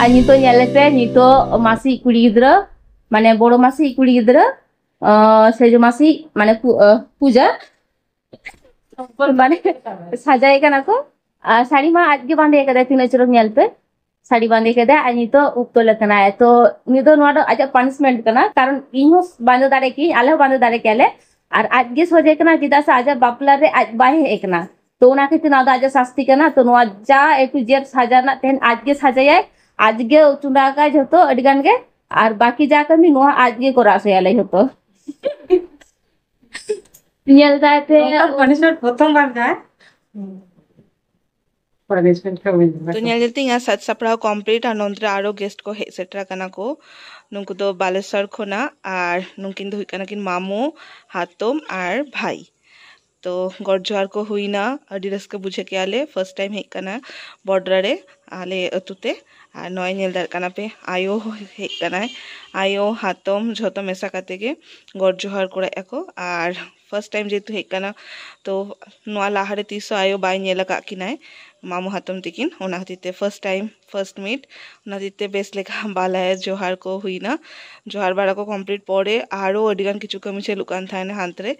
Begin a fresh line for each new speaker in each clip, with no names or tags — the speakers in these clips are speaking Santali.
ᱟᱨ ᱱᱤᱛᱚᱜ ᱧᱮᱞ ᱯᱮ ᱱᱤᱛᱚᱜ ᱢᱟᱥᱤ ᱠᱩᱲᱤ ᱜᱤᱫᱽᱨᱟᱹ ᱢᱟᱱᱮ ᱵᱚᱲᱚ ᱢᱟᱥᱤ ᱠᱩᱲᱤ ᱜᱤᱫᱽᱨᱟᱹ ᱥᱮᱡᱚ ᱢᱟᱥᱤ ᱢᱟᱱᱮ ᱯᱩᱡᱟ ᱢᱟᱱᱮ ᱥᱟᱡᱟᱭ ᱠᱟᱱᱟ ᱠᱚ ᱟᱨ ᱥᱟᱹᱲᱤ ᱢᱟ ᱟᱡ ᱜᱮ ᱵᱟᱸᱫᱮ ᱠᱟᱫᱟᱭ ᱛᱤᱱᱟᱹᱜ ᱪᱚᱨᱚᱠ ᱧᱮᱞ ᱯᱮ ᱥᱟᱹᱲᱤ ᱵᱟᱸᱫᱮ ᱠᱮᱫᱟ ᱟᱨ ᱱᱤᱛᱚᱜ ᱩᱯᱛᱚᱞ ᱟᱠᱟᱱᱟᱭ ᱛᱚ ᱩᱱᱤ ᱫᱚ ᱱᱚᱣᱟ ᱫᱚ ᱟᱡᱟᱜ ᱯᱟᱱᱤᱥᱢᱮᱱᱴ ᱠᱟᱱᱟ ᱠᱟᱨᱚᱱ ᱤᱧ ᱦᱚᱸ ᱵᱟᱸᱫᱮ ᱫᱟᱲᱮ ᱠᱤᱧ ᱟᱞᱮ ᱦᱚᱸ ᱵᱟᱸᱫᱮ ᱫᱟᱲᱮ ᱠᱮᱭᱟᱞᱮ ᱟᱨ ᱟᱡ ᱜᱮ ᱥᱚᱡᱷᱮ ᱠᱟᱱᱟ ᱪᱮᱫᱟᱜ ᱥᱮ ᱟᱡᱟᱜ ᱵᱟᱯᱞᱟ ᱨᱮ ᱟᱡ ᱵᱟᱭ ᱦᱮᱡ ᱟᱠᱟᱱᱟ ᱛᱚ ᱚᱱᱟ ᱠᱷᱟᱹᱛᱤᱨ ᱱᱚᱣᱟ ᱫᱚ ᱟᱡᱟᱜ ᱥᱟᱥᱛᱤ ᱠᱟᱱᱟ ᱛᱚ ᱱᱚᱣᱟ ᱡᱟ ᱮ ᱴᱩ ᱡᱮᱰ ᱥᱟᱡᱟ ᱨᱮᱱᱟᱜ ᱛᱮᱦᱮᱧ ᱟᱡ ᱜᱮ ᱥᱟᱡᱟᱭᱟᱭ ᱟᱡ ᱜᱮ ᱪᱚᱸᱫᱟ ᱟᱠᱟᱭ ᱡᱷᱚᱛᱚ ᱟᱹᱰᱤ ᱜᱟᱱ ᱜᱮ ᱟᱨ ᱵᱟᱠᱤ ᱡᱟ ᱠᱟᱹᱢᱤ ᱱᱚᱣᱟ ᱟᱡ ᱜᱮ ᱠᱚᱨᱟᱣ ᱦᱚᱪᱚᱭᱟᱞᱮ ᱡᱷᱚᱛᱚ ᱧᱮᱞ ᱫᱟᱭ ᱯᱮ ᱯᱟᱱᱤᱥᱢᱮᱱᱴ ᱯᱨᱚᱛᱷᱚᱢ
ᱵᱟᱨ ᱫᱟᱭ ᱛᱚ ᱧᱮᱞ ᱧᱮᱞ ᱛᱤᱧ
ᱥᱟᱡᱽ ᱥᱟᱯᱲᱟᱣ ᱠᱚᱢᱯᱞᱤᱴ ᱟᱨ ᱱᱚᱱᱛᱮ ᱨᱮ ᱟᱨᱚ ᱜᱮᱥᱴ ᱠᱚ ᱦᱮᱡ ᱥᱮᱴᱮᱨ ᱟᱠᱟᱱᱟ ᱠᱚ ᱱᱩᱠᱩ ᱫᱚ ᱵᱟᱞᱮᱥᱚᱨ ᱠᱷᱚᱱᱟᱜ ᱟᱨ ᱱᱩᱠᱤᱱ ᱫᱚ ᱦᱩᱭᱩᱜ ᱠᱟᱱᱟ ᱠᱤᱱ ᱢᱟᱢᱚ ᱦᱟᱛᱚᱢ ᱟᱨ ᱵᱷᱟᱭ ᱛᱚ ᱜᱚᱰ ᱡᱚᱦᱟᱨ ᱠᱚ ᱦᱩᱭᱱᱟ ᱟᱹᱰᱤ ᱨᱟᱹᱥᱠᱟᱹ ᱵᱩᱡᱷᱟᱹᱣ ᱠᱮᱜᱼᱟ ᱞᱮ ᱯᱷᱟᱨᱥᱴ ᱴᱟᱭᱤᱢ ᱦᱮᱡ ᱠᱟᱱᱟ ᱵᱚᱰᱨᱟ ᱨᱮ ᱟᱞᱮ ᱟᱹᱛᱩ ᱛᱮ ᱟᱨ ᱱᱚᱜᱼᱚᱭ ᱧᱮᱞ ᱫᱟᱲᱮᱭᱟᱜ ᱠᱟᱱᱟ ᱯᱮ ᱟᱭᱳ ᱦᱮᱡ ᱠᱟᱱᱟᱭ ᱟᱭᱳ ᱦᱟᱛᱚᱢ ᱡᱷᱚᱛᱚ ᱢᱮᱥᱟ ᱠᱟᱛᱮ ᱜᱮ ᱜᱚᱰ ᱡᱚᱦᱟᱨ ᱠᱚᱨᱟᱭᱮᱜᱼᱟ ᱠᱚ ᱟᱨ ᱯᱷᱟᱥᱴ ᱴᱟᱭᱤᱢ ᱡᱮᱦᱮᱛᱩ ᱦᱮᱡ ᱟᱠᱟᱱᱟ ᱛᱚ ᱱᱚᱣᱟ ᱞᱟᱦᱟᱨᱮ ᱛᱤᱥ ᱦᱚᱸ ᱟᱭᱳ ᱵᱟᱭ ᱧᱮᱞ ᱟᱠᱟᱫ ᱠᱤᱱᱟᱭ ᱢᱟᱢᱚ ᱦᱟᱛᱚᱢ ᱛᱟᱹᱠᱤᱱ ᱚᱱᱟ ᱠᱷᱟᱹᱛᱤᱨ ᱛᱮ ᱯᱷᱟᱥᱴ ᱴᱟᱭᱤᱢ ᱯᱷᱟᱥᱴ ᱢᱤᱴ ᱚᱱᱟ ᱠᱷᱟᱹᱛᱤᱨ ᱛᱮ ᱵᱮᱥ ᱞᱮᱠᱟ ᱵᱟᱞᱟᱭᱟ ᱡᱚᱦᱟᱨ ᱠᱚ ᱦᱩᱭᱱᱟ ᱡᱚᱦᱟᱨ ᱵᱟᱲᱟ ᱠᱚ ᱠᱚᱢᱯᱞᱤᱴ ᱯᱚᱨᱮ ᱟᱨᱚ ᱟᱹᱰᱤ ᱜᱟᱱ ᱠᱤᱪᱷᱩ ᱠᱟᱹᱢᱤ ᱪᱟᱹᱞᱩᱜ ᱠᱟᱱ ᱛᱟᱦᱮᱱᱟ ᱦᱟᱱᱛᱮ ᱨᱮ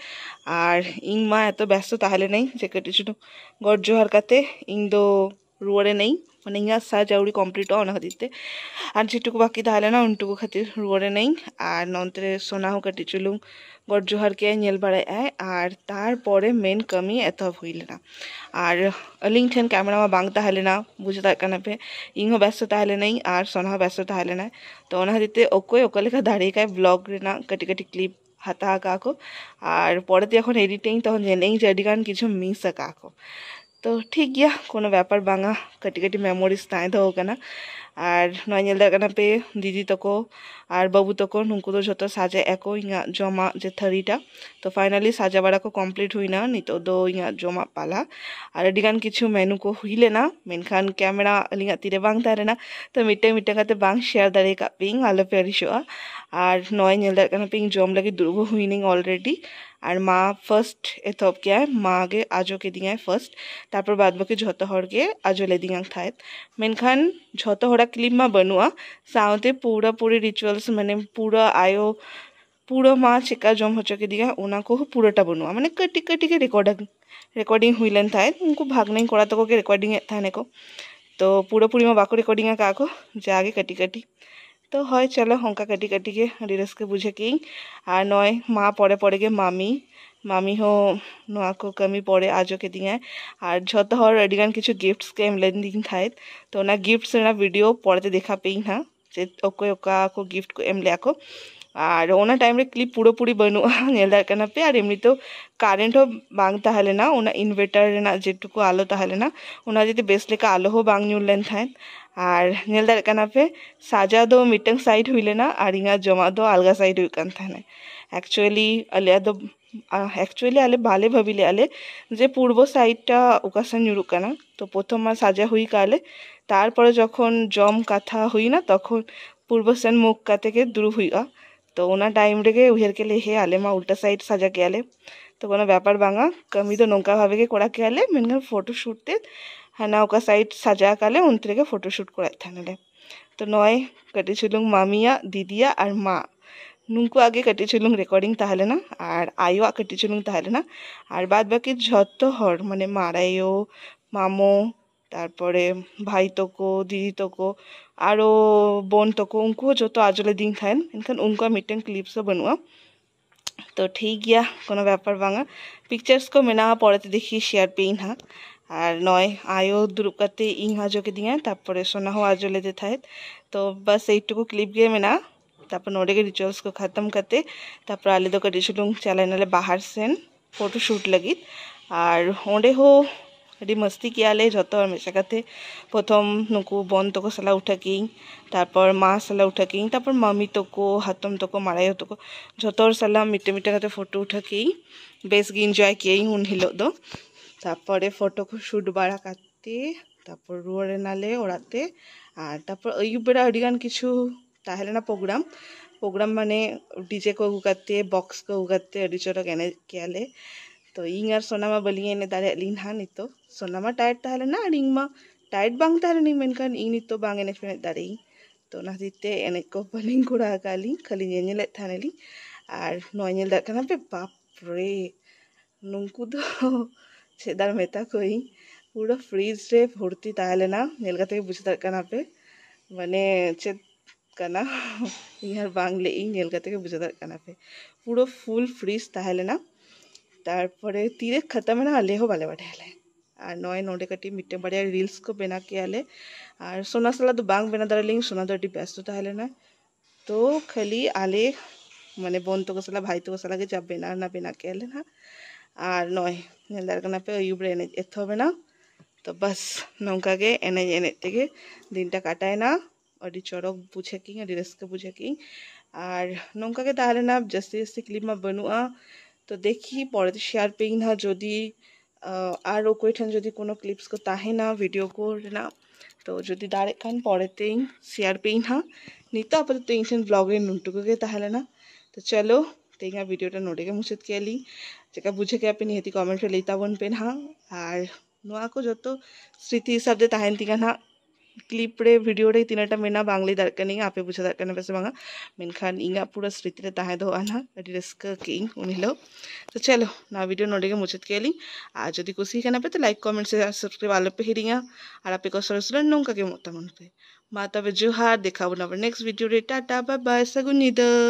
ᱟᱨ ᱤᱧ ᱢᱟ ᱮᱛᱚ ᱵᱮᱥᱛᱚ ᱛᱟᱦᱮᱸ ᱞᱤᱱᱟᱹᱧ ᱡᱮ ᱠᱟᱹᱴᱤᱡ ᱪᱩᱞᱩᱝ ᱜᱚᱰ ᱡᱚᱦᱟᱨ ᱠᱟᱛᱮ ᱤᱧ ᱫᱚ ᱨᱩᱣᱟᱹᱲᱮ ᱱᱟᱹᱧ ᱢᱟᱱᱮ ᱤᱧᱟᱹᱜ ᱥᱟᱨᱪ ᱟᱹᱣᱨᱤ ᱠᱚᱢᱯᱞᱤᱴᱚᱜᱼᱟ ᱚᱱᱟ ᱠᱷᱟᱹᱛᱤᱨ ᱛᱮ ᱟᱨ ᱡᱮᱴᱩᱠᱩ ᱵᱟᱹᱠᱤ ᱛᱟᱦᱮᱸ ᱞᱮᱱᱟ ᱩᱱᱴᱩᱠᱩ ᱠᱷᱟᱹᱛᱤᱨ ᱨᱩᱣᱟᱹᱲᱮ ᱱᱟᱹᱧ ᱟᱨ ᱱᱚᱱᱛᱮ ᱨᱮ ᱥᱳᱱᱟ ᱦᱚᱸ ᱠᱟᱹᱴᱤᱡ ᱪᱩᱞᱩᱝ ᱜᱚᱰ ᱡᱚᱦᱟᱨ ᱠᱮᱜᱼᱟᱭ ᱧᱮᱞ ᱵᱟᱲᱟᱭᱮᱜᱼᱟᱭ ᱟᱨ ᱛᱟᱨᱯᱚᱨᱮ ᱢᱮᱱ ᱠᱟᱹᱢᱤ ᱮᱛᱚᱦᱚᱵ ᱦᱩᱭ ᱞᱮᱱᱟ ᱟᱨ ᱟᱹᱞᱤᱧ ᱴᱷᱮᱱ ᱠᱮᱢᱮᱨᱟ ᱢᱟ ᱵᱟᱝ ᱛᱟᱦᱮᱸ ᱞᱮᱱᱟ ᱵᱩᱡᱷᱟᱹᱣ ᱫᱟᱲᱮᱭᱟᱜ ᱠᱟᱱᱟ ᱯᱮ ᱤᱧ ᱦᱚᱸ ᱵᱮᱥᱛᱚ ᱛᱟᱦᱮᱸ ᱞᱮᱱᱟᱹᱧ ᱟᱨ ᱥᱳᱱᱟ ᱦᱚᱸ ᱵᱮᱥᱛᱚ ᱛᱟᱦᱮᱸ ᱞᱮᱱᱟᱭ ᱛᱚ ᱚᱱᱟ ᱠᱷᱟᱹᱛᱤᱨ ᱛᱮ ᱚᱠᱚᱭ ᱚᱠᱟ ᱞᱮᱠᱟ ᱫᱟᱲᱮ ᱠᱟᱭ ᱵᱞᱚᱜ ᱨᱮᱱᱟᱜ ᱠᱟᱹᱴᱤᱡ ᱠᱟᱹᱴᱤᱡ ᱠᱞᱤᱯ ᱦᱟᱛᱟᱣ ᱠᱟᱜᱼᱟ ᱠᱚ ᱟᱨ ᱯᱚᱨᱮ ᱛᱮ ᱡᱚᱠᱷᱚᱱ ᱮᱰᱤᱴᱤᱝ ᱛᱚᱠᱷᱚᱱ ᱧᱮᱞᱮᱫ ᱟᱹᱧ ᱡᱮ ᱟᱹᱰᱤ ᱜᱟᱱ ᱠᱤᱪᱷᱩ ᱢᱤᱥ ᱟᱠᱟᱜᱼᱟ ᱠᱚ ᱛᱚ ᱴᱷᱤᱠ ᱜᱮᱭᱟ ᱠᱳᱱᱳ ᱵᱮᱯᱟᱨ ᱵᱟᱝᱟ ᱠᱟᱹᱴᱤᱡ ᱠᱟᱹᱴᱤᱡ ᱢᱮᱢᱳᱨᱤᱥ ᱛᱟᱦᱮᱸ ᱫᱚᱦᱚ ᱟᱠᱟᱱᱟ ᱟᱨ ᱱᱚᱣᱟ ᱧᱮᱞ ᱫᱟᱲᱮᱭᱟᱜ ᱠᱟᱱᱟ ᱯᱮ ᱫᱤᱫᱤ ᱛᱟᱠᱚ ᱟᱨ ᱵᱟᱹᱵᱩ ᱛᱟᱠᱚ ᱱᱩᱠᱩ ᱫᱚ ᱡᱷᱚᱛᱚ ᱥᱟᱡᱟᱣ ᱮᱫᱼᱟ ᱠᱚ ᱤᱧᱟᱹᱜ ᱡᱚᱢᱟᱜ ᱡᱮ ᱛᱷᱟᱹᱨᱤᱴᱟ ᱛᱚ ᱯᱷᱟᱭᱱᱟᱞᱤ ᱥᱟᱡᱟᱣ ᱵᱟᱲᱟ ᱠᱚ ᱠᱚᱢᱯᱞᱤᱴ ᱦᱩᱭ ᱮᱱᱟ ᱱᱤᱛᱚᱜ ᱫᱚ ᱤᱧᱟᱹᱜ ᱡᱚᱢᱟᱜ ᱯᱟᱞᱟ ᱟᱨ ᱟᱹᱰᱤ ᱜᱟᱱ ᱠᱤᱪᱷᱩ ᱢᱮᱱᱩ ᱠᱚ ᱦᱩᱭ ᱞᱮᱱᱟ ᱢᱮᱱᱠᱷᱟᱱ ᱠᱮᱢᱮᱨᱟ ᱟᱹᱞᱤᱧᱟᱜ ᱛᱤᱨᱮ ᱵᱟᱝ ᱛᱟᱦᱮᱸ ᱞᱮᱱᱟ ᱛᱚ ᱢᱤᱫᱴᱟᱹᱝ ᱢᱤᱫᱴᱟᱹᱝ ᱠᱟᱛᱮ ᱵᱟᱝ ᱥᱮᱭᱟᱨ ᱫᱟᱲᱮ ᱟᱠᱟᱫ ᱯᱮᱭᱟᱹᱧ ᱟᱞᱚ ᱯᱮ ᱟᱹᱲᱤᱥᱚᱜᱼᱟ ᱟᱨ ᱱᱚᱜᱼᱚᱭ ᱧᱮᱞ ᱫᱟᱲᱮᱭᱟᱜ ᱠᱟᱱᱟᱯᱮ ᱤᱧ ᱡᱚᱢ ᱞᱟᱹᱜᱤᱫ ᱫᱩᱲᱩᱵ ᱦᱚᱸ ᱦᱩᱭᱱᱟᱹᱧ ᱚᱞᱨᱮᱰᱤ ᱟᱨ ᱢᱟ ᱯᱷᱟᱥᱴ ᱮᱛᱚᱦᱚᱵ ᱠᱮᱜᱼᱟᱭ ᱢᱟ ᱜᱮ ᱟᱡᱚ ᱠᱤᱫᱤᱧᱟᱭ ᱯᱷᱟᱥᱴ ᱛᱟᱨᱯᱚᱨ ᱵᱟᱫ ᱵᱟᱹᱠᱤ ᱡᱷᱚᱛᱚ ᱦᱚᱲ ᱜᱮ ᱟᱡᱚ ᱞᱮᱫᱤᱧᱟ ᱛᱟᱦᱮᱸᱫ ᱢᱮᱱᱠᱷᱟᱱ ᱡᱷᱚᱛᱚ ᱦᱚᱲᱟᱜ ᱠᱞᱤᱯ ᱢᱟ ᱵᱟᱹᱱᱩᱜᱼᱟ ᱥᱟᱶᱛᱮ ᱯᱩᱨᱟᱹ ᱯᱩᱨᱤ ᱨᱤᱪᱩᱣᱟᱞᱥ ᱢᱟᱱᱮ ᱯᱩᱨᱟᱹ ᱟᱭᱳ ᱯᱩᱨᱟᱹ ᱢᱟ ᱪᱮᱫᱠᱟ ᱡᱚᱢ ᱦᱚᱪᱚ ᱠᱤᱫᱤᱧᱟ ᱚᱱᱟ ᱠᱚᱦᱚᱸ ᱯᱩᱨᱟᱹᱴᱟ ᱵᱟᱹᱱᱩᱜᱼᱟ ᱢᱟᱱᱮ ᱠᱟᱹᱴᱤᱡ ᱠᱟᱹᱴᱤᱡ ᱜᱮ ᱨᱮᱠᱳᱨᱰ ᱨᱮᱠᱳᱰᱤᱝ ᱦᱩᱭ ᱞᱮᱱ ᱛᱟᱦᱮᱸᱫ ᱩᱱᱠᱩ ᱵᱷᱟᱜᱽᱱᱟᱧ ᱠᱚᱲᱟ ᱛᱟᱠᱚ ᱜᱮ ᱨᱮᱠᱳᱰᱤᱝ ᱮᱫ ᱛᱟᱦᱮᱱᱟᱠᱚ ᱛᱚ ᱯᱩᱨᱟᱹᱯᱩᱨᱤ ᱢᱟ ᱵᱟᱠᱚ ᱨᱮᱠᱳᱰᱤᱝ ᱟᱠᱟᱫ ᱠᱚ ᱡᱟᱜᱮ ᱠᱟᱹᱴᱤᱡ ᱠᱟᱹᱴᱤᱡ ᱛᱚ ᱦᱳᱭ ᱪᱚᱞᱚ ᱚᱱᱠᱟ ᱠᱟᱹᱴᱤᱡ ᱠᱟᱹᱴᱤᱡ ᱜᱮ ᱟᱹᱰᱤ ᱨᱟᱹᱥᱠᱟᱹ ᱵᱩᱡᱷᱟᱹᱣ ᱠᱮᱫ ᱟᱹᱧ ᱟᱨ ᱱᱚᱜᱼᱚᱭ ᱢᱟ ᱯᱚᱨᱮ ᱯᱚᱨᱮ ᱜᱮ ᱢᱟᱢᱤ ᱢᱟᱢᱤ ᱦᱚᱸ ᱱᱚᱣᱟ ᱠᱚ ᱠᱟᱹᱢᱤ ᱯᱚᱨᱮ ᱟᱡᱚ ᱠᱤᱫᱤᱧᱟᱭ ᱟᱨ ᱡᱷᱚᱛᱚ ᱦᱚᱲ ᱟᱹᱰᱤ ᱜᱟᱱ ᱠᱤᱪᱷᱩ ᱜᱤᱯᱷᱴᱥ ᱠᱚ ᱮᱢ ᱞᱮᱫᱤᱧ ᱛᱟᱦᱮᱸᱫ ᱛᱚ ᱚᱱᱟ ᱜᱤᱯᱷᱴᱥ ᱨᱮᱱᱟᱜ ᱵᱷᱤᱰᱤᱭᱳ ᱯᱚᱨᱮᱛᱮ ᱫᱮᱠᱷᱟᱣ ᱯᱮᱭᱟᱹᱧ ᱦᱟᱸᱜ ᱥᱮ ᱚᱠᱚᱭ ᱚᱠᱟ ᱠᱚ ᱜᱤᱯᱷᱴ ᱠᱚ ᱮᱢ ᱞᱮᱫᱼᱟ ᱠᱚ ᱟᱨ ᱚᱱᱟ ᱴᱟᱭᱤᱢ ᱨᱮ ᱠᱞᱤᱯ ᱯᱩᱨᱟᱹᱯᱩᱨᱤ ᱵᱟᱹᱱᱩᱜᱼᱟ ᱧᱮᱞ ᱫᱟᱲᱮᱭᱟᱜ ᱠᱟᱱᱟ ᱯᱮ ᱟᱨ ᱮᱢᱱᱤ ᱛᱮ ᱠᱟᱨᱮᱱᱴ ᱦᱚᱸ ᱵᱟᱝ ᱛᱟᱦᱮᱸ ᱞᱮᱱᱟ ᱚᱱᱟ ᱤᱱᱵᱷᱟᱨᱴᱟᱨ ᱨᱮᱱᱟᱜ ᱡᱮᱴᱩᱠᱩ ᱟᱞᱚ ᱛᱟᱦᱮᱸ ᱞᱮᱱᱟ ᱚᱱᱟ ᱡᱩᱫᱤ ᱵᱮᱥ ᱞᱮᱠᱟ ᱟᱞᱚ ᱦᱚᱸ ᱵᱟᱝ ᱧᱩᱨ ᱞᱮᱱ ᱛᱟᱦᱮᱸᱫ ᱟᱨ ᱧᱮᱞ ᱫᱟᱲᱮᱭᱟᱜ ᱠᱟᱱᱟ ᱯᱮ ᱥᱟᱡᱟᱣ ᱫᱚ ᱢᱤᱫᱴᱟᱝ ᱥᱟᱭᱤᱰ ᱦᱩᱭ ᱞᱮᱱᱟ ᱟᱨ ᱤᱧᱟᱹᱜ ᱡᱚᱢᱟᱜ ᱫᱚ ᱟᱞᱜᱟ ᱥᱟᱭᱤᱰ ᱦᱩᱭᱩᱜ ᱠᱟᱱ ᱛᱟᱦᱮᱱᱟ ᱮᱠᱪᱩᱭᱮᱞᱤ ᱟᱞᱮᱭᱟᱜ ᱫᱚ ᱮᱠᱪᱩᱭᱮᱞᱤ ᱟᱞᱮ ᱵᱟᱞᱮ ᱵᱷᱟᱵᱤ ᱞᱮᱜᱼᱟ ᱞᱮ ᱡᱮ ᱯᱩᱨᱵᱚ ᱥᱟᱭᱤᱰ ᱴᱟ ᱚᱠᱟ ᱥᱮᱱ ᱧᱩᱨᱩᱜ ᱠᱟᱱᱟ ᱛᱚ ᱯᱨᱚᱛᱷᱚᱢ ᱢᱟ ᱥᱟᱡᱟᱣ ᱦᱩᱭ ᱠᱟᱜᱼᱟ ᱞᱮ ᱛᱟᱨᱯᱚᱨᱮ ᱡᱚᱠᱷᱚᱱ ᱡᱚᱢ ᱠᱟᱛᱷᱟ ᱦᱩᱭᱮᱱᱟ ᱛᱚᱠᱷᱚᱱ ᱯᱩᱨᱵᱚ ᱥᱮᱱ ᱢᱩᱠᱷ ᱠᱟᱛᱮ ᱜᱮ ᱫᱩᱲᱩᱵ ᱦᱩᱭᱩᱜᱼᱟ ᱛᱚ ᱚᱱᱟ ᱴᱟᱭᱤᱢ ᱨᱮᱜᱮ ᱩᱭᱦᱟᱹᱨ ᱠᱮᱜᱼᱟ ᱞᱮ ᱦᱮᱸ ᱟᱞᱮ ᱢᱟ ᱩᱞᱴᱟᱹ ᱥᱟᱭᱤᱰ ᱥᱟᱡᱟᱣ ᱠᱮᱜᱼᱟ ᱞᱮ ᱛᱚ ᱠᱳᱱᱳ ᱵᱮᱯᱟᱨ ᱵᱟᱝᱟ ᱠᱟᱹᱢᱤ ᱫᱚ ᱱᱚᱝᱠᱟ ᱵᱷᱟᱵᱮ ᱜᱮ ᱠᱚᱨᱟᱣ ᱠᱮᱜᱼᱟ ᱞᱮ ᱢᱮᱱᱠᱷᱟᱱ ᱯᱷᱳᱴᱳ ᱥᱩᱴ ᱛᱮ ᱦᱟᱱᱟ ᱚᱠᱟ ᱥᱟᱭᱤᱰ ᱥᱟᱡᱟᱣ ᱠᱟᱜᱼᱟ ᱞᱮ ᱚᱱᱛᱮ ᱨᱮᱜᱮ ᱯᱷᱳᱴᱳ ᱥᱩᱴ ᱠᱚᱨᱟᱣ ᱮᱜ ᱛᱟᱦᱮᱱᱟᱞᱮ ᱛᱚ ᱱᱚᱜᱼᱚᱭ ᱠᱟᱹᱴᱤᱡ ᱪᱩᱞᱩᱝ ᱢᱟᱢᱤᱭᱟᱜ ᱫᱤᱫᱤᱭᱟᱜ ᱟᱨ ᱢᱟ ᱟᱜ ᱱᱩᱠᱩᱣᱟᱜ ᱜᱮ ᱠᱟᱹᱴᱤᱡ ᱪᱩᱞᱩᱝ ᱨᱮᱠᱳᱰᱤᱝ ᱛᱟᱦᱮᱸ ᱞᱮᱱᱟ ᱟᱨ ᱟᱭᱳ ᱟᱜ ᱠᱟᱹᱴᱤᱡ ᱪᱩᱞᱩᱝ ᱛᱟᱦᱮᱸ ᱞᱮᱱᱟ ᱟᱨ ᱵᱟᱫ ᱵᱟᱹᱠᱤ ᱡᱷᱚᱛᱚ ᱦᱚᱲ ᱢᱟᱱᱮ ᱢᱟᱨ ᱟᱭᱳ ᱢᱟᱢᱚ ᱛᱟᱨᱯᱚᱨᱮ ᱵᱷᱟᱭ ᱛᱟᱠᱚ ᱫᱤᱫᱤ ᱛᱟᱠᱚ ᱟᱨᱚ ᱵᱳᱱ ᱛᱟᱠᱚ ᱩᱱᱠᱩ ᱦᱚᱸ ᱡᱚᱛᱚ ᱟᱡᱚ ᱞᱮᱫᱤᱧ ᱛᱟᱦᱮᱸᱫ ᱢᱮᱱᱠᱷᱟᱱ ᱩᱱᱠᱩᱣᱟᱜ ᱢᱤᱫᱴᱟᱝ ᱠᱞᱤᱯᱥ ᱦᱚᱸ ᱵᱟᱹᱱᱩᱜᱼᱟ ᱛᱚ ᱴᱷᱤᱠ ᱜᱮᱭᱟ ᱠᱳᱱᱳ ᱵᱮᱯᱟᱨ ᱵᱟᱝᱟ ᱯᱤᱠᱪᱟᱨᱥ ᱠᱚ ᱢᱮᱱᱟᱜᱼᱟ ᱯᱚᱨᱮᱛᱮ ᱫᱮᱠᱷᱤ ᱥᱮᱭᱟᱨ ᱯᱮᱭᱟᱹᱧ ᱦᱟᱸᱜ ᱟᱨ ᱱᱚᱜᱼᱚᱭ ᱟᱭᱳ ᱫᱩᱲᱩᱵ ᱠᱟᱛᱮ ᱤᱧ ᱦᱚᱸ ᱟᱡᱚ ᱠᱤᱫᱤᱧᱟᱭ ᱛᱟᱨᱯᱚᱨᱮ ᱥᱳᱱᱟ ᱦᱚᱸ ᱟᱡᱚ ᱞᱮᱫᱮ ᱛᱟᱦᱮᱸᱫ ᱛᱚ ᱵᱟᱥ ᱮᱭ ᱴᱩᱠᱩ ᱠᱞᱤᱯ ᱜᱮ ᱢᱮᱱᱟᱜᱼᱟ ᱛᱟᱨᱯᱚᱨ ᱱᱚᱰᱮ ᱜᱮ ᱨᱤᱪᱩᱣᱟᱞᱥ ᱠᱚ ᱠᱷᱟᱛᱚᱢ ᱠᱟᱛᱮ ᱛᱟᱨᱯᱚᱨ ᱟᱞᱮ ᱫᱚ ᱠᱟᱹᱴᱤᱡ ᱪᱩᱞᱩᱝ ᱪᱟᱞᱟᱣ ᱮᱱᱟᱞᱮ ᱵᱟᱦᱟᱨ ᱥᱮᱱ ᱯᱷᱳᱴᱳ ᱥᱩᱴ ᱞᱟᱹᱜᱤᱫ ᱟᱨ ᱚᱸᱰᱮ ᱦᱚᱸ ᱟᱹᱰᱤ ᱢᱟᱹᱥᱛᱤ ᱠᱮᱜ ᱟᱞᱮ ᱡᱚᱛᱚ ᱦᱚᱲ ᱢᱮᱥᱟ ᱠᱟᱛᱮᱜ ᱯᱨᱚᱛᱷᱚᱢ ᱱᱩᱠᱩ ᱵᱳᱱ ᱛᱟᱠᱚ ᱥᱟᱞᱟᱜ ᱩᱴᱷᱟᱹ ᱠᱮᱜ ᱛᱟᱨᱯᱚᱨ ᱢᱟ ᱥᱟᱞᱟᱜ ᱩᱴᱷᱟᱹ ᱠᱮᱜ ᱤᱧ ᱛᱟᱨᱯᱚᱨ ᱢᱟᱢᱤ ᱛᱟᱠᱚ ᱦᱟᱛᱚᱢ ᱛᱟᱠᱚ ᱢᱟᱨᱟᱝ ᱟᱭᱳ ᱛᱟᱠᱚ ᱡᱚᱛᱚ ᱦᱚᱲ ᱥᱟᱞᱟᱜ ᱢᱤᱫᱴᱮᱱ ᱢᱤᱫᱴᱮᱱ ᱠᱟᱛᱮᱜ ᱯᱷᱳᱴᱳ ᱩᱴᱷᱟᱹ ᱠᱮᱜ ᱟᱹᱧ ᱵᱮᱥ ᱜᱮ ᱤᱱᱡᱚᱭ ᱠᱮᱜ ᱟᱹᱧ ᱩᱱ ᱦᱤᱞᱳᱜ ᱫᱚ ᱛᱟᱨᱯᱚᱨᱮ ᱯᱷᱳᱴᱳ ᱠᱚ ᱥᱩᱴ ᱵᱟᱲᱟ ᱠᱟᱛᱮᱜ ᱛᱟᱨᱯᱚᱨ ᱨᱩᱣᱟᱹᱲ ᱮᱱᱟᱞᱮ ᱚᱲᱟᱜ ᱛᱮ ᱟᱨ ᱛᱟᱨᱯᱚᱨ ᱟᱹᱭᱩᱵ ᱵᱮᱲᱟ ᱟᱹᱰᱤ ᱜᱟᱱ ᱠᱤᱪᱷᱩ ᱛᱟᱦᱮᱸ ᱞᱮᱱᱟ ᱯᱨᱳᱜᱨᱟᱢ ᱯᱨᱳᱜᱨᱟᱢ ᱢᱟᱱᱮ ᱰᱤᱡᱮ ᱠᱚ ᱟᱹᱜᱩ ᱠᱟᱛᱮ ᱵᱚᱠᱥ ᱠᱚ ᱟᱹᱜᱩ ᱠᱟᱛᱮ ᱟᱹᱰᱤ ᱪᱚᱨᱚᱠ ᱮᱱᱮᱡ ᱠᱮᱜᱼᱟ ᱞᱮ ᱛᱚ ᱤᱧ ᱟᱨ ᱥᱳᱱᱟ ᱢᱟ ᱵᱟᱹᱞᱤᱧ ᱮᱱᱮᱡ ᱫᱟᱲᱮᱭᱟᱜ ᱞᱤᱧ ᱦᱟᱸᱜ ᱱᱤᱛᱚᱜ ᱥᱳᱱᱟ ᱢᱟ ᱴᱟᱭᱟᱨᱰ ᱛᱟᱦᱮᱸ ᱞᱮᱱᱟ ᱟᱨ ᱤᱧ ᱢᱟ ᱴᱟᱭᱟᱨᱰ ᱵᱟᱝ ᱛᱟᱦᱮᱸ ᱞᱮᱱᱟᱹᱧ ᱢᱮᱱᱠᱷᱟᱱ ᱤᱧ ᱱᱤᱛᱚᱜ ᱵᱟᱝ ᱮᱱᱮᱡ ᱯᱷᱮᱱᱮᱡ ᱫᱟᱲᱮᱭᱟᱜ ᱟᱹᱧ ᱛᱚ ᱚᱱᱟ ᱠᱷᱟᱹᱛᱤᱨ ᱛᱮ ᱮᱱᱮᱡ ᱠᱚ ᱵᱟᱹᱞᱤᱧ ᱠᱚᱨᱟᱣ ᱟᱠᱟᱫᱼᱟ ᱞᱤᱧ ᱠᱷᱟᱹᱞᱤ ᱧᱮᱧᱮᱞᱮᱫ ᱛᱟᱦᱮᱱᱟᱞᱤᱧ ᱟᱨ ᱱᱚᱜᱼᱚᱭ ᱧᱮᱞ ᱫᱟᱲᱮᱭᱟᱜ ᱠᱟᱱᱟ ᱯᱮ ᱵᱟᱯᱨᱮ ᱱᱩᱝᱠᱩ ᱫᱚ ᱪᱮᱫ ᱟᱨ ᱢᱮᱛᱟ ᱠᱚᱣᱟᱧ ᱯᱩᱨᱟᱹ ᱯᱷᱨᱤᱡ ᱨᱮ ᱵᱷᱚᱨᱛᱤ ᱛᱟᱦᱮᱸ ᱞᱮᱱᱟ ᱧᱮᱞ ᱠᱟᱛᱮᱜ ᱜᱮ ᱵᱩᱡᱷᱟᱹᱣ ᱫᱟᱲᱮᱭᱟᱜ ᱠᱟᱱᱟ ᱯᱮ ᱢᱟᱱᱮ ᱪᱮᱫ ᱠᱟᱱᱟ ᱤᱧ ᱦᱚᱸ ᱵᱟᱝ ᱞᱟᱹᱭ ᱤᱧ ᱧᱮᱞ ᱠᱟᱛᱮᱜ ᱜᱮ ᱵᱩᱡᱷᱟᱹᱣ ᱫᱟᱲᱮᱭᱟᱜ ᱠᱟᱱᱟ ᱯᱮ ᱯᱩᱨᱟᱹ ᱯᱷᱩᱞ ᱯᱷᱨᱤᱡ ᱛᱟᱦᱮᱸ ᱞᱮᱱᱟ ᱛᱟᱨᱯᱚᱨᱮ ᱛᱤᱨᱮ ᱠᱷᱟᱛᱚᱢ ᱮᱱᱟ ᱟᱞᱮ ᱦᱚᱸ ᱵᱟᱞᱮ ᱵᱟᱰᱟᱭᱟ ᱞᱮ ᱟᱨ ᱱᱚᱜᱼᱚᱭ ᱱᱚᱰᱮ ᱠᱟᱹᱴᱤᱡ ᱢᱤᱫᱴᱮᱱ ᱵᱟᱨᱭᱟ ᱨᱤᱞᱥ ᱠᱚ ᱵᱮᱱᱟᱣ ᱠᱮᱜᱼᱟ ᱞᱮ ᱟᱨ ᱥᱳᱱᱟ ᱥᱟᱞᱟᱜ ᱫᱚ ᱵᱟᱝ ᱵᱮᱱᱟᱣ ᱫᱟᱲᱮ ᱞᱮᱱᱟᱹᱧ ᱥᱳᱱᱟ ᱫᱚ ᱟᱹᱰᱤ ᱵᱮᱥᱛᱚ ᱛᱟᱦᱮᱸ ᱞᱮᱱᱟᱭ ᱛᱚ ᱠᱷᱟᱹᱞᱤ ᱟᱞᱮ ᱢᱟᱱᱮ ᱵᱳᱱ ᱛᱟᱠᱚ ᱥᱟᱞᱟᱜ ᱵᱷᱟᱭ ᱛᱟᱠᱚ ᱥᱟᱞᱟᱜ ᱜᱮ ᱡᱟ ᱵᱮᱱᱟᱣ ᱨᱮᱱᱟᱜ ᱵᱮᱱᱟᱣ ᱠᱮᱜᱼᱟ ᱞᱮ ᱱᱟᱦᱟᱜ ᱟᱨ ᱱᱚᱜᱼᱚᱭ ᱧᱮᱞ ᱫᱟᱲᱮᱭᱟᱜ ᱠᱟᱱᱟ ᱯᱮ ᱟᱹᱭᱩᱵ ᱨᱮ ᱮᱱᱮᱡ ᱮᱛᱚᱦᱚᱵ ᱮᱱᱟ ᱛᱚ ᱵᱟᱥ ᱱᱚᱝᱠᱟ ᱜᱮ ᱮᱱᱮᱡ ᱮᱱᱮᱡ ᱛᱮᱜᱮ ᱫᱤᱱᱴᱟ ᱠᱟᱴᱟᱭᱮᱱᱟ ᱟᱹᱰᱤ ᱪᱚᱨᱚᱠ ᱵᱩᱡᱷᱟᱹᱣ ᱠᱤᱫᱟᱹᱧ ᱟᱹᱰᱤ ᱨᱟᱹᱥᱠᱟᱹ ᱵᱩᱡᱷᱟᱹᱣ ᱠᱤᱫᱟᱹᱧ ᱟᱨ ᱱᱚᱝᱠᱟ ᱜᱮ ᱛᱟᱦᱮᱸ ᱞᱮᱱᱟ ᱡᱟᱹᱥᱛᱤ ᱡᱟᱹᱥᱛᱤ ᱠᱞᱤᱯ ᱢᱟ ᱵᱟᱹᱱᱩᱜᱼᱟ ᱛᱚ ᱫᱮᱠᱷᱤ ᱯᱚᱨᱮᱛᱮ ᱥᱮᱭᱟᱨ ᱯᱮᱭᱟᱹᱧ ᱱᱟᱦᱟᱜ ᱡᱩᱫᱤ ᱟᱨ ᱚᱠᱚᱭ ᱴᱷᱮᱱ ᱡᱩᱫᱤ ᱠᱳᱱᱳ ᱠᱞᱤᱯᱥ ᱠᱚ ᱛᱟᱦᱮᱱᱟ ᱵᱷᱤᱰᱭᱳ ᱠᱚ ᱨᱮᱱᱟᱜ ᱛᱚ ᱡᱩᱫᱤ ᱫᱟᱲᱮᱜ ᱠᱷᱟᱱ ᱯᱚᱨᱮᱛᱮᱧ ᱥᱮᱭᱟᱨ ᱯᱮᱭᱟᱧ ᱦᱟᱸᱜ ᱱᱤᱛᱚᱜ ᱟᱯᱟᱛᱚᱛᱚ ᱤᱧ ᱴᱷᱮᱱ ᱵᱞᱚᱜ ᱨᱮ ᱱᱩᱱ ᱴᱩᱠᱩ ᱜᱮ ᱛᱟᱦᱮᱸ ᱞᱮᱱᱟ ᱛᱚ ᱪᱚᱞᱚ ᱛᱮᱦᱮᱧᱟᱜ ᱵᱷᱤᱰᱭᱳᱴᱟ ᱱᱚᱰᱮ ᱜᱮ ᱢᱩᱪᱟᱹᱫ ᱠᱮᱜᱼᱟ ᱞᱤᱧ ᱪᱮᱠᱟ ᱵᱩᱡᱷᱟᱹᱣ ᱠᱮᱜᱼᱟ ᱯᱮ ᱱᱤᱦᱟᱹᱛᱤ ᱠᱚᱢᱮᱱᱴ ᱨᱮ ᱞᱟᱹᱭ ᱛᱟᱵᱚᱱ ᱯᱮ ᱦᱟᱸᱜ ᱟᱨ ᱱᱚᱣᱟ ᱠᱚ ᱡᱚᱛᱚ ᱥᱨᱤᱛᱤ ᱦᱤᱥᱟᱹᱵ ᱛᱮ ᱛᱟᱦᱮᱱ ᱛᱤᱧᱟ ᱦᱟᱸᱜ ᱠᱞᱤᱯ ᱨᱮ ᱵᱷᱤᱰᱤᱭᱳ ᱨᱮ ᱛᱤᱱᱟᱹᱜ ᱴᱟ ᱢᱮᱱᱟᱜᱼᱟ ᱵᱟᱝ ᱞᱟᱹᱭ ᱫᱟᱲᱮᱭᱟᱜ ᱠᱟᱹᱱᱟᱹᱧ ᱟᱯᱮ ᱵᱩᱡᱷᱟᱹᱣ ᱫᱟᱲᱮᱭᱟᱜ ᱠᱟᱱᱟ ᱯᱮ ᱥᱮ ᱵᱟᱝ ᱢᱮᱱᱠᱷᱟᱱ ᱤᱧᱟᱹᱜ ᱯᱩᱨᱟᱹ ᱥᱨᱤᱛᱤ ᱨᱮ ᱛᱟᱦᱮᱸ ᱫᱚᱦᱚᱜᱼᱟ ᱱᱟᱦᱟᱜ ᱟᱹᱰᱤ ᱨᱟᱹᱥᱠᱟᱹ ᱠᱮᱜ ᱟᱹᱧ ᱩᱱ ᱦᱤᱞᱳᱜ ᱛᱚ ᱪᱚᱞᱚ ᱱᱚᱣᱟ ᱵᱷᱤᱰᱤᱭᱳ ᱱᱚᱰᱮ ᱜᱮ ᱢᱩᱪᱟᱹᱫ ᱠᱮᱜᱼᱟ ᱞᱤᱧ ᱟᱨ ᱡᱩᱫᱤ ᱠᱩᱥᱤ ᱠᱟᱱᱟ ᱯᱮ ᱛᱚ ᱞᱟᱭᱤᱠ ᱠᱚᱢᱮᱱᱴ ᱥᱮᱭᱟᱨ ᱥᱟᱵᱥᱠᱨᱟᱭᱤᱵ ᱟᱞᱚ ᱯᱮ ᱦᱤᱲᱤᱧᱟ ᱟᱨ ᱟᱯᱮ ᱠᱚ ᱥᱚᱨᱮ ᱥᱚᱨᱮ ᱱᱚᱝᱠᱟ ᱜᱮ ᱮᱢᱚᱜ ᱛᱟᱵᱚᱱ ᱯᱮ ᱢᱟ ᱛᱚᱵᱮ ᱡᱚᱦᱟᱨ ᱫᱮᱠᱷᱟᱣ ᱵᱚᱱᱟ ᱟᱵᱟᱨ ᱱᱮᱠᱥᱴ ᱵᱷᱤᱰᱤᱭᱳ ᱨᱮ ᱴᱟᱴᱟ ᱵᱟᱭ ᱵᱟᱭ ᱥᱟᱹᱜᱩᱱ ᱧᱤᱫᱟᱹ